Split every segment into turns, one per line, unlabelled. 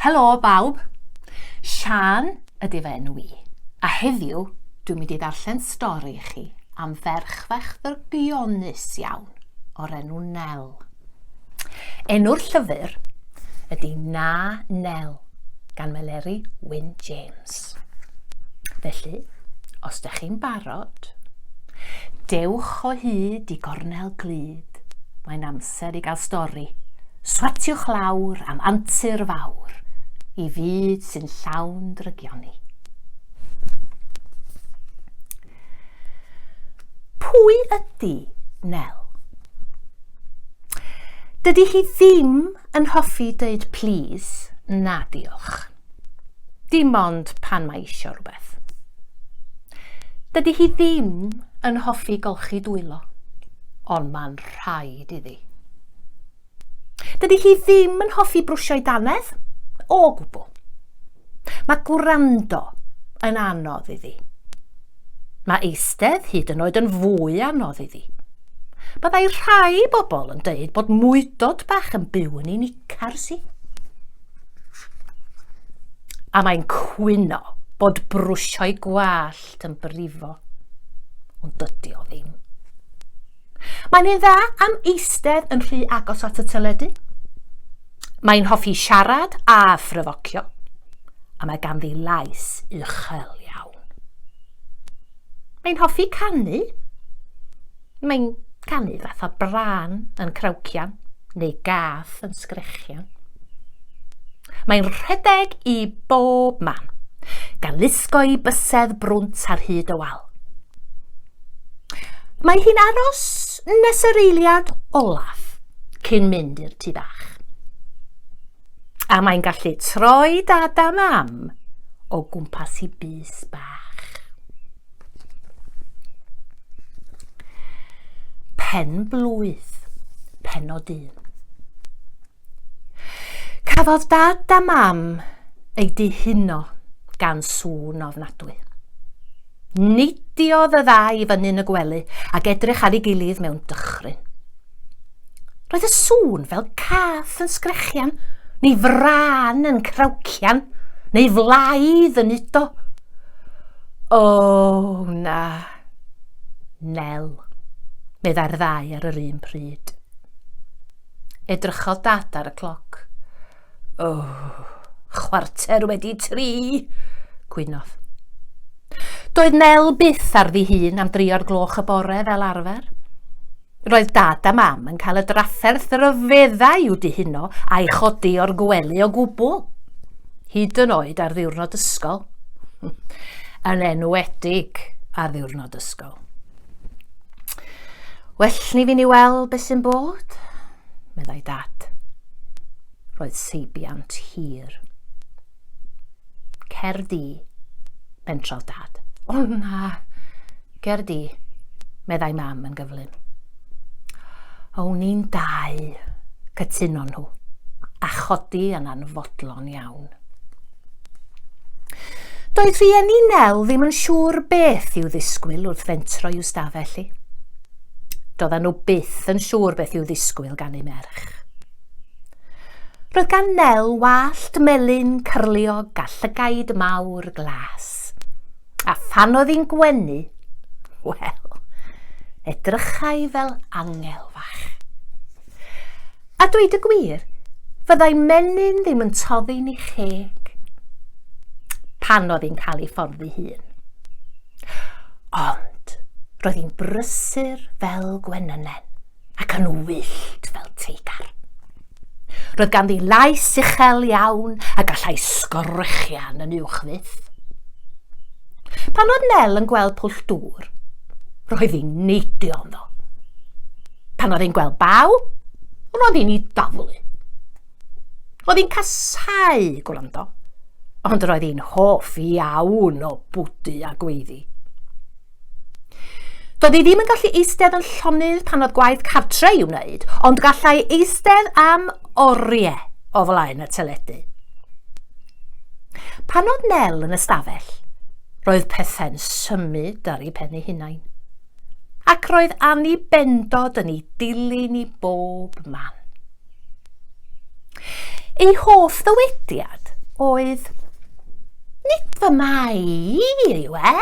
Helo bawb, Sian ydy fe enw i, a heddiw dwi'n mynd i ddarllen stori i chi am ferch fach ddrygionus iawn o'r enw Nel. Enw'r llyfr ydy Na Nel gan Meleri Wyn James. Fflint. Felly, os da chi'n barod, dewch o hyd i gornel glyd. Mae'n amser i gael stori. Swatiwch lawr am antur fawr i fyd sy'n llawn drygioni. Pwy ydy Nel? Dydy hi ddim yn hoffi dweud please na diolch. Dim ond pan mae isio rhywbeth. Dydy hi ddim yn hoffi golchi dwylo, ond mae'n rhaid iddi. Dydy hi ddim yn hoffi brwsio'i dannedd, o gwbl. Mae gwrando yn anodd iddi. Mae eistedd hyd yn oed yn fwy anodd iddi. Byddai rhai bobl yn dweud bod mwydod bach yn byw yn unigryw. Carsi. A mae'n cwyno bod brwsio'i gwallt yn brifo. Ond dydy o ddim. Mae'n un dda am eistedd yn rhy agos at y teledu. Mae'n hoffi siarad a phryfocio. A mae ganddi lais uchel iawn. Mae'n hoffi canu. Mae'n canu fatha brân yn crawcian neu gath yn sgrechian. Mae'n rhedeg i bob man, gan lusgo i bysedd brwnt ar hyd y wal. Mae hi'n aros nes yr eiliad olaf cyn mynd i'r tu bach. A mae'n gallu troi dad a mam o gwmpas i bys bach. Pen blwydd, pen o dyn. Cafodd dad a mam ei dihuno gan sŵn ofnadwy. Nidiodd y ddau fyny'n y gwely ac edrych ar ei gilydd mewn dychryn. Roedd y sŵn fel cath yn sgrechian, neu fran yn crawcian, neu flaidd yn udo. O, oh, na. Nel, meddai'r ddau ar yr un pryd. Edrychodd dad ar y cloc. O, oh, chwarter wedi tri, gwynodd. Doedd Nel byth ar ddi hun am drio'r gloch y bore fel arfer. Roedd Dad a Mam yn cael y drafferth ryfeddau i'w dihuno a'i chodi o'r gwely o gwbl, hyd yn oed ar ddiwrnod ysgol. yn enwedig ar ddiwrnod ysgol. Well ni fi ni weld beth sy'n bod, meddai Dad. Roedd seibiant hir. Cer di, bentrodd dad. O na, ger di, meddai mam yn gyflym. O ni'n dau, cytuno nhw, a chodi yn anfodlon iawn. Doedd rhieni Nel ddim yn siŵr beth i'w ddisgwyl wrth fentro i'w stafell i. Doedden nhw byth yn siŵr beth i'w ddisgwyl gan ei merch. Roedd gan Nel wallt melyn cyrliog a llygaid mawr glas. A phan oedd hi'n gwenu, wel, edrychai fel angel fach. A dweud y gwir, fyddai menyn ddim yn toddi'n ei cheg pan oedd hi'n cael ei fforddi hun. Ond roedd hi'n brysur fel gwenynen. ac yn wyllt fel teigar. Roedd ganddi lais uchel iawn a gallai sgorchian yn uwch fyth. Pan oedd Nel yn gweld pwll dŵr, roedd hi'n neidio ynddo. Pan oedd hi'n gweld baw, roedd hi'n ei daflu. Roedd hi'n casau gwrando, ond roedd hi'n hoff iawn o bwdu a gweiddi. Doedd hi ddim yn gallu eistedd yn llonydd pan oedd gwaith cartre i'w wneud, ond gallai eistedd am oriau o flaen y teledu. Pan oedd Nel yn ystafell, roedd pethau'n symud ar ei pen ei hunain. Ac roedd Annie bendod yn ei dilyn i bob man. Ei hoff ddywediad oedd, Nid fy mai yw e!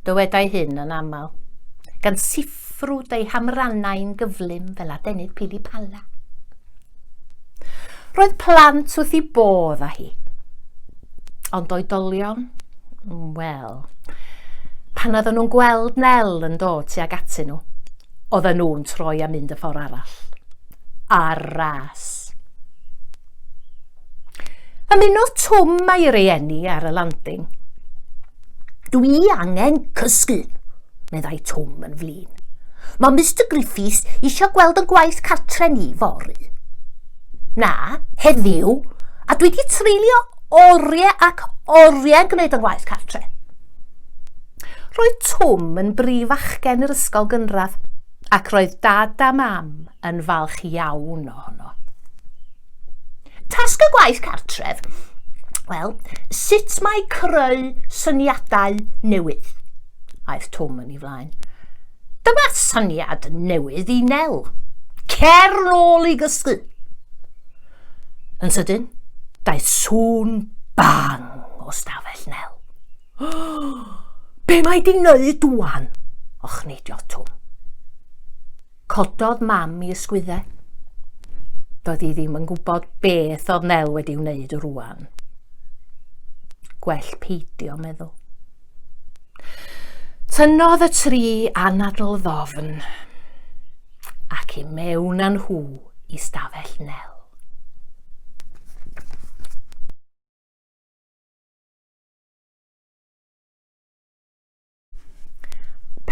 Dywedai hyn yn aml, gan siffrwd ei hamrannau'n gyflym fel adenydd pili pala. Roedd plant wrth i bodd â hi, ond oedolion, wel, pan oedden nhw'n gweld Nel yn dod tuag atyn nhw, oedden nhw'n troi a mynd y ffordd arall. Ar ras. Ymunodd Twm a'i rieni ar y landing. Dwi angen cysgu, meddai Twm yn flin. Mae Mr Griffiths eisiau gweld yn gwaith cartre ni fory. Na, heddiw, a dwi wedi treulio oriau ac oriau'n gwneud yn gwaith cartre. Roedd Twm yn brif fachgen yr ysgol gynradd, ac roedd Dad a Mam yn falch iawn ohono. Tasg y gwaith cartref, wel, sut mae creu syniadau newydd, aeth Twm yn ei flaen. Dyma syniad newydd i Nel. Cer nôl i gysgu. Yn sydyn, daeth sŵn bang o stafell Nel. Be mae di wneud dwan? Och neidio Twm. Cododd mam i ysgwyddau. Doedd hi ddim yn gwybod beth oedd Nel wedi wneud rwan. Gwell peidio meddwl. Tynnodd y tri anadl ddofn ac i mewn â nhw i stafell Nel.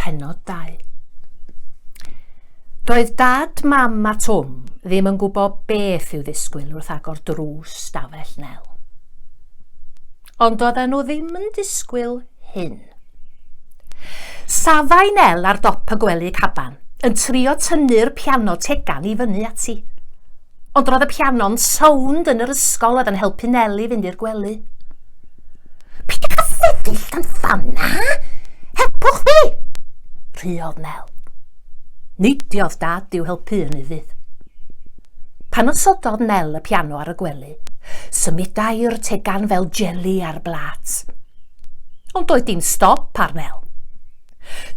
Penod 2 Doedd dad, mam a Twm ddim yn gwybod beth i'w ddisgwyl wrth agor drws stafell Nel. Ond doedden nhw ddim yn disgwyl hyn. Safai Nel ar dop y gwely caban, yn trio tynnu'r piano tegan i fyny ati. Ond roedd y piano'n sownd yn yr ysgol oedd yn helpu Neli fynd i'r gwely. Peidiwch â sefyll dan ffan na! Helpwch fi! Rhuodd Nel. Neidiodd dad i'w helpu yn ufudd. Pan osododd Nel y piano ar y gwely, symudai'r tegan fel jeli ar blat. Ond doedd dim stop ar Nel.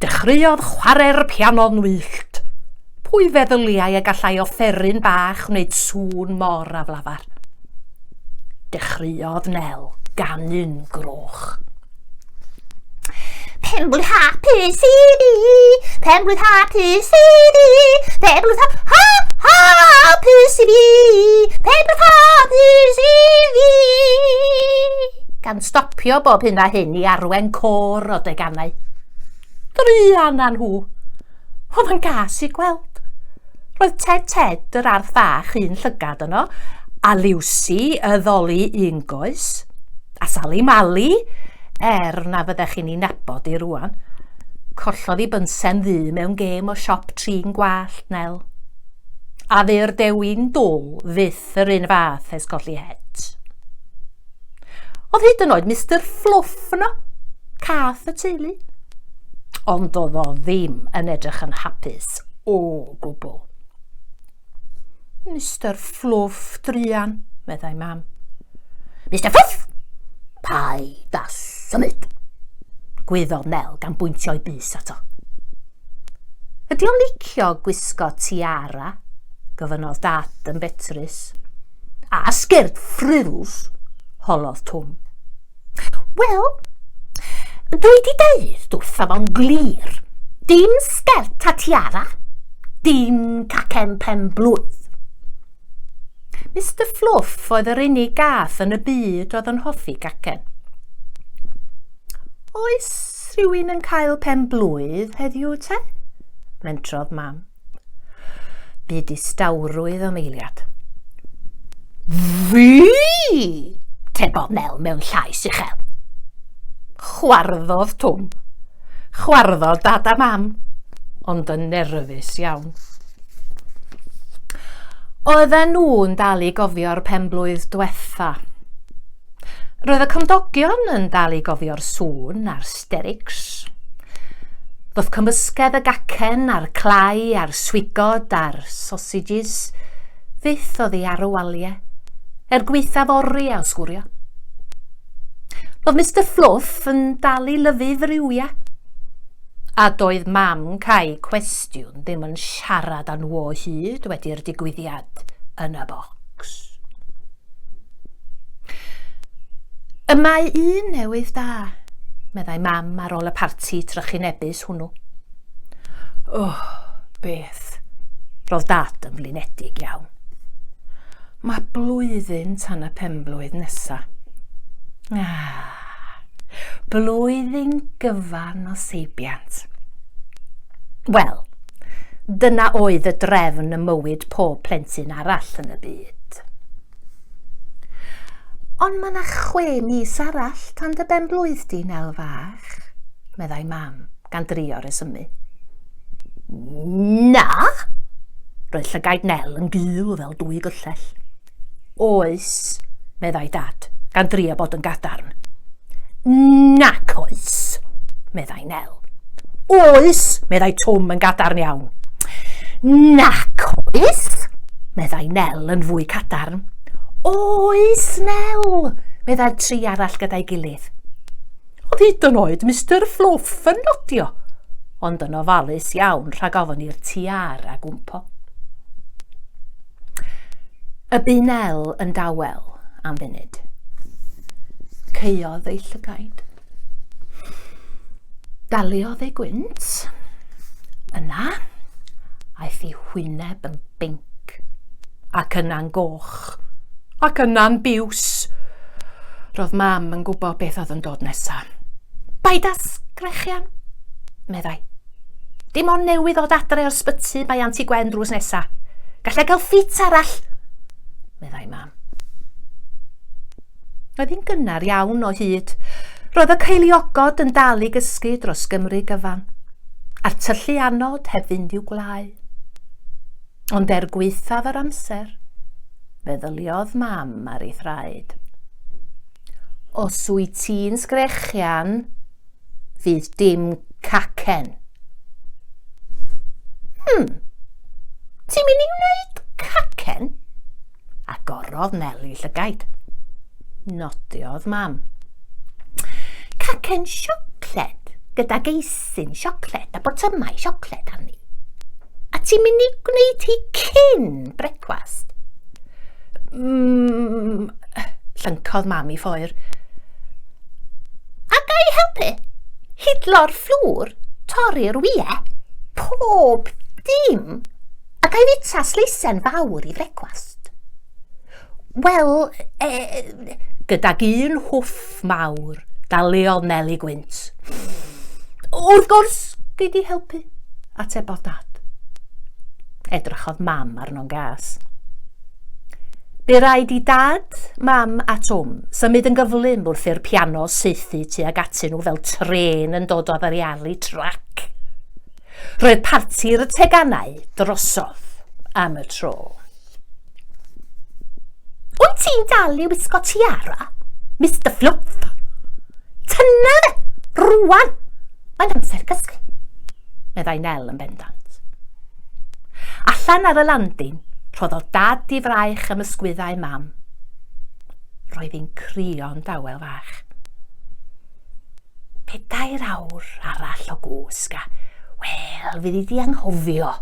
Dechreuodd chwarae'r piano'n wyllt. Pwy feddyliai y gallai offeryn bach wneud sŵn mor aflafar? Dechreuodd Nel ganu'n groch. Penblwydd hapus i ni, penblwydd hapus i ni, penblwydd ha ha hapus i fi, penblwydd hapus i fi. Gan stopio bob hyn a hyn i arwen côr o deganau. Druan â nhw! Oedd yn gas i gweld. Roedd Ted Ted yr arth fach un llygad yno, a Liwsi y ddoli un goes, a Sali Mali, er na fyddech chi'n ei nabod i rwan. Collodd i bynsen ddu mewn gêm o siop trin gwallt, Nel. A fu'r dewin dwl fyth yr un fath ers colli het. Oedd hyd yn oed Mr Fluff yno, cath y teulu. Ond oedd o ddim yn edrych yn hapus o gwbl. Mr Fluff, druan, meddai mam. Mr Fluff! Pai da symud! Gwyddodd Nel gan bwyntio'i bus ato. Ydy o'n licio gwisgo tiara? Gofynnodd dad yn betrus. A sgert ffrwls, holodd Twm. Wel, dwi di deud wrtha fo'n glir, dim sgert a tiara, dim cacen pen blwydd. Mr Fluff oedd yr unig gath yn y byd oedd yn hoffi gacen. Oes rhywun yn cael pen blwydd heddiw te? Mentrodd mam. Bu distawrwydd am eiliad. Fi! tebodd Nel mewn llais uchel. Chwarddodd Twm. Chwarddodd dad a mam, ond yn nerfus iawn. Oedden nhw'n dal i gofio'r penblwydd dwetha. Roedd y cymdogion yn dal i gofio'r sŵn a'r Asterics. Wrth cymysgedd y gacen a'r clai a'r swigod a'r sausages, fyth oddi ar y waliau, er gweithaf ori a osgwrio. Roedd Mr Fluff yn dal i lyfu friwiau, a doedd mam cae cwestiwn ddim yn siarad â nhw o hyd wedi'r digwyddiad yn y bocs. Y mae un newydd da, meddai mam ar ôl y parti trychinebus hwnnw. Oh, beth, roedd dad yn flinedig iawn. Mae blwyddyn tan y penblwydd nesa. Ah, Blwyddyn gyfan o seibiant. Wel, dyna oedd y drefn y mywyd pob plentyn arall yn y byd. Ond mae yna chwe mis arall tan dy ben blwydd di, Nel fach, meddai mam, gan drio resymu. Na! Roedd llygaid Nel yn gul fel dwy gyllell. Oes, meddai Dad, gan drio bod yn gadarn. Nac oes, meddai Nel. Oes, meddai Twm yn gadarn iawn. Nac oes, meddai Nel yn fwy cadarn. Oes, Nel, meddai'r tri arall gyda'i gilydd. Oedd hyd yn oed Mr Fluff yn nodio, ond yn ofalus iawn rhag ofyn i'r tiara gwmpo. Y bu Nel yn dawel am funud. Caeodd ei llygaid. Daliodd ei gwynt. Yna, aeth ei hwyneb yn binc, ac yna'n goch, ac yna'n biws. Roedd mam yn gwybod beth oedd yn dod nesaf. Paid â sgrechian, meddai. Dim ond newydd ddod adre o'r sbyty mae Anti Gwen drws nesa. Gallai gael ffit arall, meddai mam. Oedd hi'n gynnar iawn o hyd. Roedd y ceiliogod yn dal i gysgu dros Gymru gyfan, a'r tyllu anod heb fynd i'w gwlau. Ond er gweithaf yr amser, feddyliodd mam ar ei thraed. Os wyt ti'n sgrechian, Fydd dim cacen. Hmm, ti'n mynd i wneud cacen? Agorodd Neli llygaid. Nodiodd mam. Cacen siocled gyda geisin siocled a botymau siocled arni. A ti'n mynd i gwneud hi cyn brecwast? Mm, llyncodd mam i ffoer. A ga i helpu? Hidlo'r fflwr, torri'r wie, pob dim. A ga i fita sleisen fawr i frecwast? Wel, e, gydag un hwff mawr, daliodd Meli Gwynt. Wrth gwrs, gei di helpu, atebodd dad. Edrychodd mam arno'n gas. Bu rhaid i Dad, Mam a Twm symud yn gyflym wrth i'r piano saethu tuag atyn nhw fel trên yn dod o ddarialu trac. Roedd parti'r y teganau drosodd am y tro. Wyt ti'n dal i wisgo tiara, Mr Fluff? Tyna fe, rwan! Mae'n amser cysgu, meddai Nel yn bendant. Allan ar y landin, rhoddodd dad i fraich am ysgwyddau mam. Roedd hi'n crio'n dawel fach. Pedair awr arall o gwsg a, wel, fydd i di anghofio,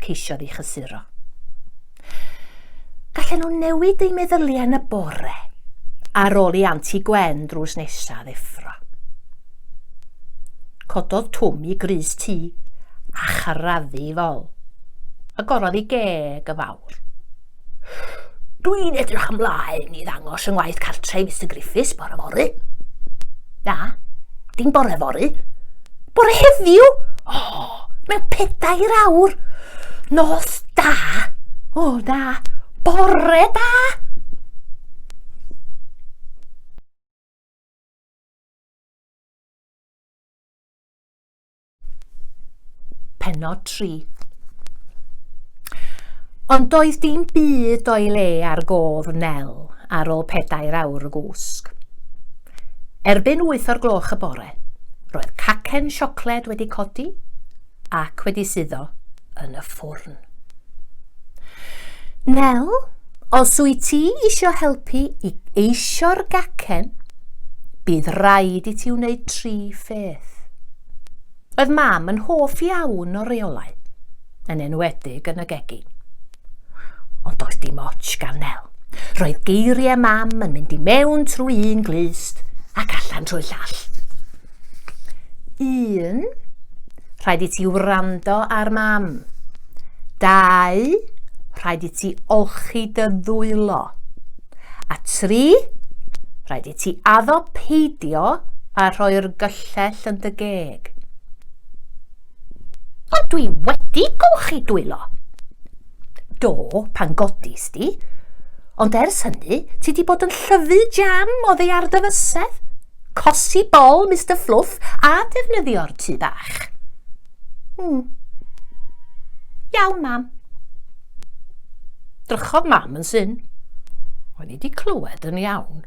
ceisiodd i chysuro. Gallen nhw newid eu meddyliau yn y bore ar ôl i Anti Gwen drws nesaf ddeffro. Cododd Twm i grys tŷ a charaddu i fol. Agorodd i geg y fawr. Dwi'n edrych ymlaen i ddangos yng ngwaith cartre i Mr Griffiths bore fory. Na, dim bore fory. Bore heddiw? O, oh, mewn pedair awr. Nos da. O, oh, da. Bore da. Penod 3 Ond doedd dim byd o'i le ar gof Nel ar ôl pedair awr o gwsg. Erbyn wyth o'r gloch y bore, roedd cacen siocled wedi codi ac wedi suddo yn y ffwrn. Nel, Os wyt ti isio helpu i eisio'r gacen, bydd rhaid i ti wneud tri pheth. Oedd mam yn hoff iawn o reolau, yn enwedig yn y gegi. Ond doedd dim ots gan Nel. Roedd geiriau mam yn mynd i mewn trwy un glust ac allan trwy llall. 1. Rhaid i ti wrando ar mam. 2. Rhaid i ti olchi dy ddwylo. A 3. Rhaid i ti addo peidio a rhoi'r gyllell yn dy geg. Ond dwi wedi golchi dwylo. Do, pan godis di. Ond ers hynny, ti di bod yn llyfu jam o ddeiar dy fysedd. Cosi bol Mister Fluff a defnyddio'r tŷ bach. Hmm. Iawn, mam. Drychodd mam yn syn. O'n i wedi clywed yn iawn.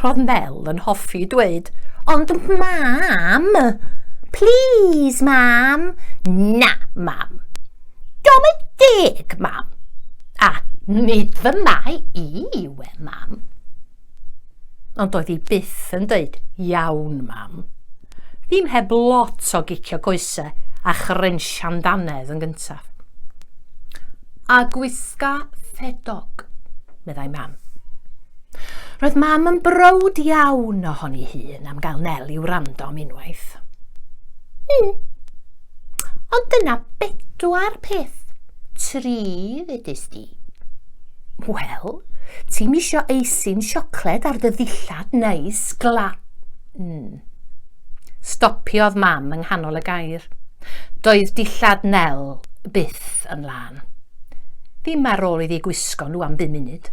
Roedd Mel yn hoffi dweud, ond mam, please mam, na mam. Dom yn deg mam, a nid fy mai i we mam. Ond doedd hi byth yn deud, Iawn, Mam. Ddim heb lot o gicio coese a chrensian dannedd yn gyntaf. A gwisga ffedog, meddai Mam. Roedd Mam yn browd iawn ohoni hun am gael Nel i wrando am unwaith. Hmm. Ond dyna bedwar peth, tri ddedys di. Wel, ti'm isio eisin siocled ar dy ddillad neis gla... Mm. Stopiodd mam yng nghanol y gair. Doedd dillad Nel byth yn lân. Ddim ar ôl iddi gwisgo nhw am bum munud.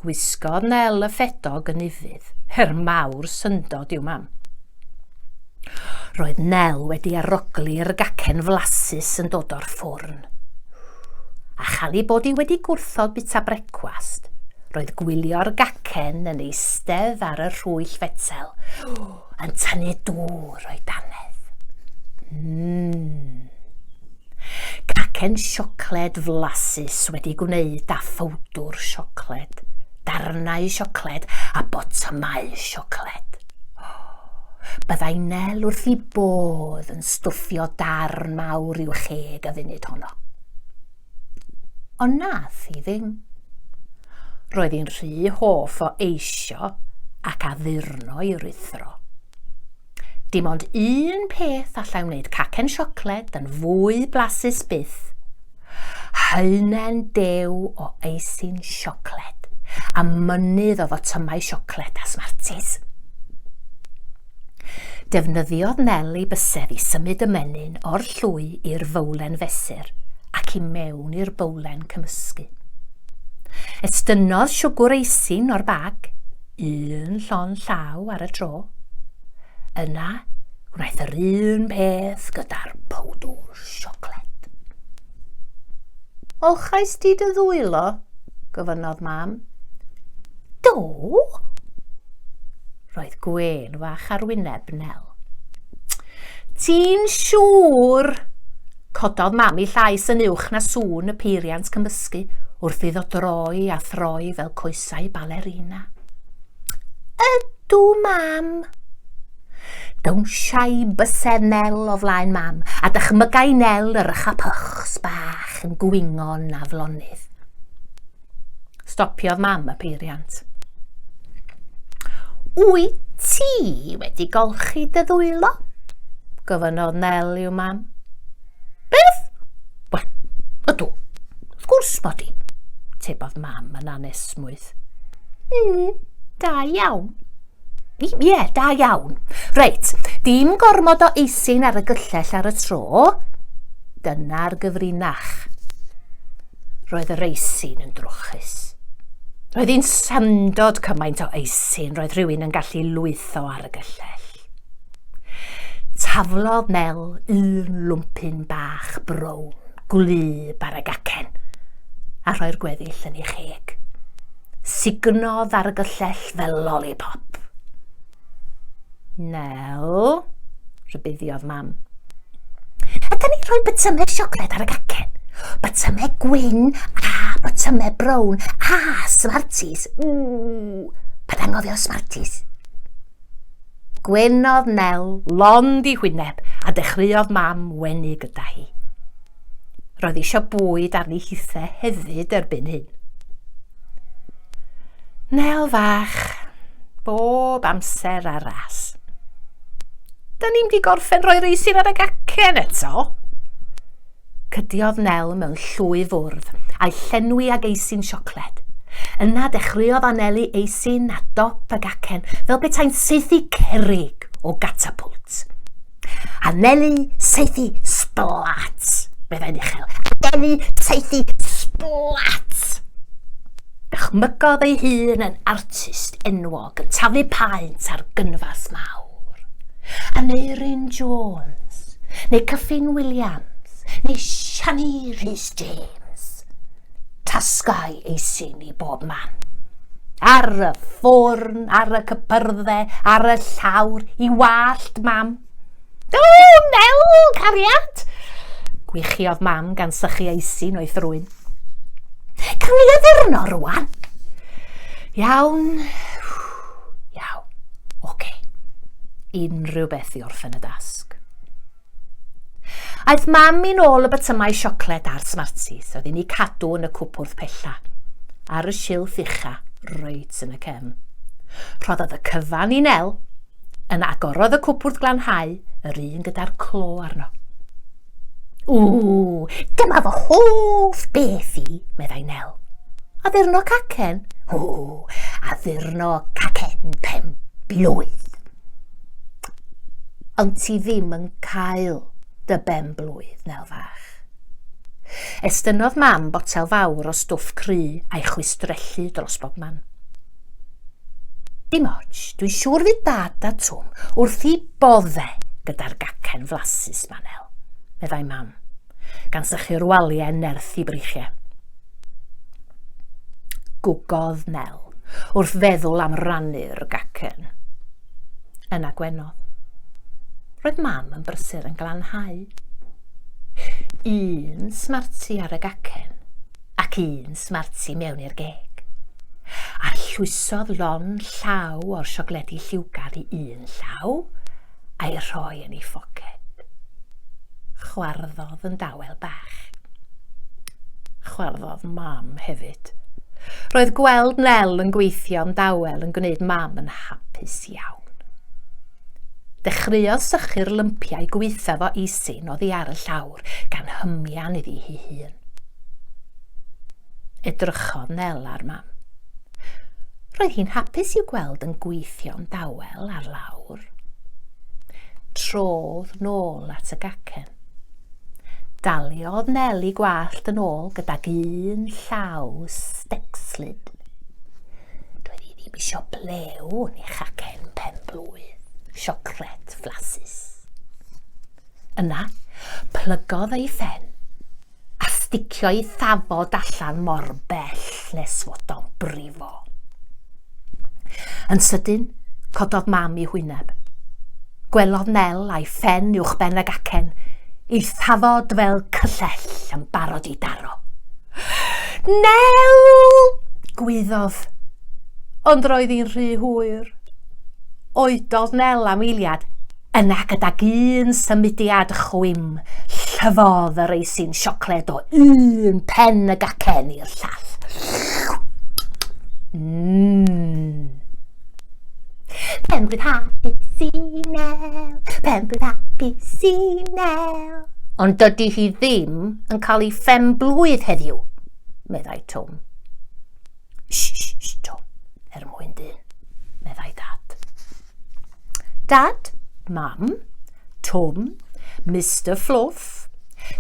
Gwisgodd Nel y ffedog yn ufudd. Her mawr syndod i'w mam. Roedd Nel wedi aroglu'r gacen flasus yn dod o'r ffwrn. A chael bod i wedi gwrthod bita brecwast, roedd gwylio'r gacen yn eistedd ar y rhwyll fetel, yn tynnu dŵr o'i dannedd. Mmm. Cacen siocled flasus wedi gwneud â phowdwr siocled, darnau siocled a botymau siocled. Byddai Nel wrth i bodd yn stwffio darn mawr i'w cheg y funud honno. Ond nath hi ddim. Roedd hi'n rhy hoff o eisio ac addurno i rithro. Dim ond un peth allai wneud cacen siocled yn fwy blasus byth, Haenen dew o eisin siocled a mynydd o fotymau siocled a smartis. Defnyddiodd Nel ei bysedd i symud y menyn o'r llwy i'r fowlen fesur ac i mewn i'r bowlen cymysgu. Estynnodd siwgwr eisin o'r bag un llond llaw ar y tro. Yna, gwnaeth yr un peth gyda'r powdwr siocled. Olchais di dy ddwylo? gofynnodd mam. Do? Roedd gwen fach ar wyneb Nel. Ti'n siŵr? Cododd Mam ei llais yn uwch na sŵn y peiriant cymysgu wrth iddo droi a throi fel coesau balerina. Ydw, Mam! Dawnsiai bysedd Nel o flaen Mam, a dychmygai Nel yr ychapychs bach yn gwingo'n aflonydd. Stopiodd mam y peiriant. Wyt ti wedi golchi dy ddwylo? Gofynnodd Nel i'w mam. Beth? Wel, ydw. Wrth gwrs bod i. Tebodd mam yn anesmwyth. Mm, da iawn. Ie, yeah, da iawn. Reit, dim gormod o eisyn ar y gyllell ar y tro. Dyna'r gyfrinach. Roedd yr eisyn yn drwchus. Roedd hi'n syndod cymaint o eisyn roedd rhywun yn gallu lwytho ar y gyllell. Taflodd Mel un lwmpyn bach brown, gwlyb ar y gacen, a rhoi'r gweddill yn ei cheg. Sugnodd ar y gyllell fel lollipop. Nel, rhybuddiodd mam. Ydy ni rhoi bytymau siocled ar y gacen? Bytymau gwyn a bytymau brown a smarties. Ww, pa dangodd o smarties? Gwenodd Nel lond i hwyneb a dechreuodd mam wenu gyda hi. Roedd eisiau bwyd arni hithe hefyd erbyn hyn. Nel fach, bob amser ar ras. Da ni'n di gorffen rhoi reisin ar y gacen eto. Cydiodd Nel mewn llwy fwrdd a'i llenwi ag eisin siocled. Yna dechreuodd anelu eisin a dop y gacen fel betaen seithi cerig o gatapwlt. Anelu saethu splat, meddai'n uchel. Anelu saethu splat! Dychmygodd ei hun yn artist enwog yn taflu paent ar gynfas mawr. Aneurin Jones, neu Cyffin Williams, neu Siani Rhys James. tasgau ei syn i bob man. Ar y ffwrn, ar y cypyrdde, ar y llawr, i wallt mam. O, Nel, cariad! Gwichiodd mam gan sychu ei syn o'i thrwyn. Cawn ni addurno rwan? Iawn, iawn, oce. Okay. Unrhyw beth i orffen y dasg. Aeth mam i'n ôl y bytymau siocled a'r Smarties oedd inni cadw yn y cwpwrdd pella, ar y silff ucha, reit yn y cefn. Rhoddodd y cyfan i Nel, yn agorodd y cwpwrdd glanhau, yr un gyda'r clo arno. Ww, dyma fy hoff beth i, meddai Nel. A ddurno cacen? Ww, a ddurno cacen pen blwydd. ond ti ddim yn cael dy ben blwydd, Nel fach. Estynnodd mam botel fawr o stwff cry a'i chwistrellu dros bob man. Dim ots, dwi'n siŵr fydd dad a Twm wrth i bodde gyda'r gacen flasus, Manel, meddai mam, gan sychu'r waliau nerth i breichiau. Gwgodd Nel, wrth feddwl am rannu'r gacen. Yna gwenodd. Roedd mam yn brysur yn glanhau. Un smarti ar y gacen, ac un smarti mewn i'r geg. Arllwysodd lon llaw o'r siocledi lliwgar i un llaw, a'i rhoi yn ei ffoced. Chwarddodd yn dawel bach. Chwarddodd mam hefyd. Roedd gweld Nel yn gweithio'n dawel yn gwneud mam yn hapus iawn. Dechreuodd sychu'r lympiau gweitha fo eisin oddi ar y llawr gan hymian iddi hi hun. Edrychodd Nel ar Mam. Roedd hi'n hapus i'w gweld yn gweithio'n dawel ar lawr. Trodd nôl at y gacen. Daliodd Nel i gwallt yn ôl gydag un llaw stecslid. Doedd hi ddim eisiau blew yn ei chacen pen blwydd, siocled flasus. Yna, plygodd ei phen a sticio i thafod allan mor bell nes fod o'n brifo. Yn sydyn, cododd mam i hwyneb. Gwelodd Nel a'i ffen uwch ben ag acen, i thafod fel cyllell yn barod i daro. Nel! gwyddodd. Ond roedd hi'n rhy hwyr. Oedodd Nel am eiliad Yna gydag un symudiad chwim, llyfodd yr eisin siocled o un pen y gacen i'r llall. Mmm. Penblwydd happy Sinel, penblwydd happy Sinel. Ond dydy hi ddim yn cael ei phenblwydd heddiw, meddai Twm. Shh, shh, shh, Twm, er mwyn dyn, meddai dad. Dad, Mam, Twm, Mister Fluff,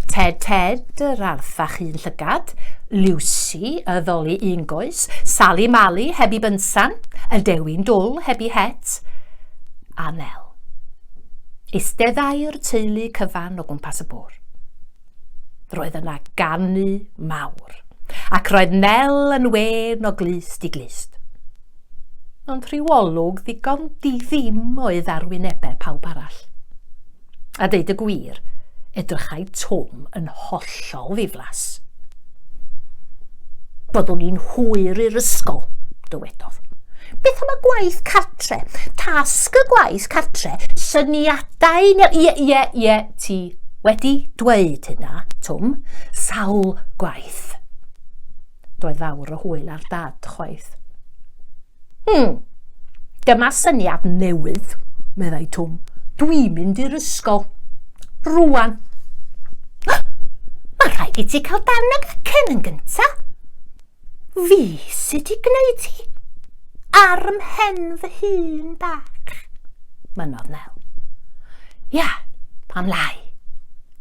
Ted Ted, yr arth a'ch un llygad, Lucy, y ddoli un goes, Sali Mali, heb i bynsan, y dewin dwl, heb i het, a Nel. Eisteddai'r teulu cyfan o gwmpas y bwr. Roedd yna ganu mawr, ac roedd Nel yn wen o glust i glust. Ond rhyw olwg ddigon di-ddim oedd ar wynebau pawb arall. A deud y gwir, edrychai Twm yn hollol ddiflas. Byddwn i'n hwyr i'r ysgol, dywedodd. Beth am y gwaith cartre? Tasg y gwaith cartre, syniadau neu... Ie, ie, ie, ti wedi dweud hynna, Twm, sawl gwaith. Doedd fawr o hwyl ar dad chwaith. Hmm, dyma syniad newydd, meddai Twm. Dwi'n mynd i'r ysgol. Rwan. Mae rhaid i ti cael dan y gacen yn gynta. Fi sydd wedi gwneud hi. Ar mhen fy hun bach. Mynodd Nel. Ia, pam lai?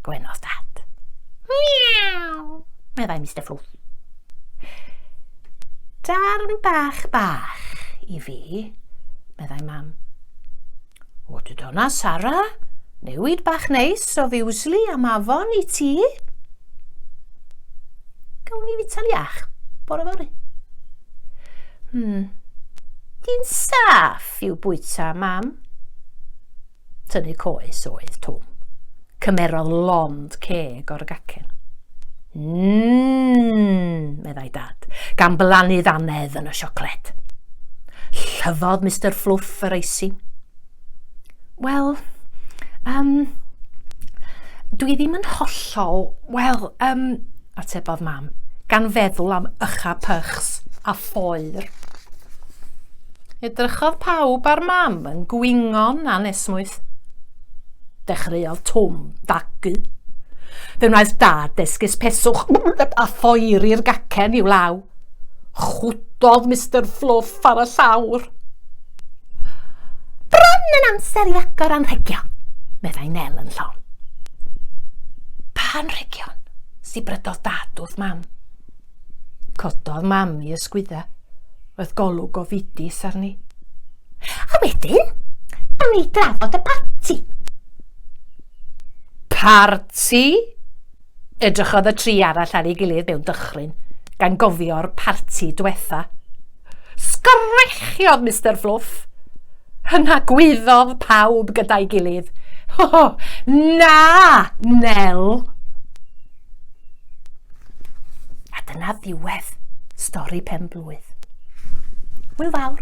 Gwenodd dad. Miaw, meddai Mr Fflwff. Darn bach bach i fi, meddai mam. O, dy dona, Sara, newid bach neis o fiwsli am afon i ti. Gawn ni fita'n iach, bore fori. Hmm, di'n saff i'w bwyta, mam. Tynnu coes oedd Twm. Cymerodd lond ceg o'r gacen. Mmm, meddai dad, gan blannu ddanedd yn y siocled. Llyfodd Mr Fluff yr eisi. Wel, um, dwi ddim yn hollol, wel, um, atebodd mam, gan feddwl am ycha pychs a phoer. Edrychodd pawb ar mam yn gwingo'n anesmwyth. Dechreuodd Twm dagu. Fe wnaeth dad esgus peswch a thoeri'r gacen i'w law. Chwdodd Mr Fluff ar y llawr. Bron yn amser i agor a'n rhegio, meddai Nel yn llon. Pan rhegion, sibrydodd dad wrth mam. Cododd mam i ysgwydda. Oedd golwg o fidis arni. A wedyn, da ni drafod y parti. Parti? Edrychodd y tri arall ar ei gilydd mewn dychryn, gan gofio'r parti dwetha. Sgrechiog Mister Fluff. Yna gwyddodd pawb gyda'i gilydd. Ho, ho, na, Nel! A dyna ddiwedd stori pen blwydd. Hwyl fawr!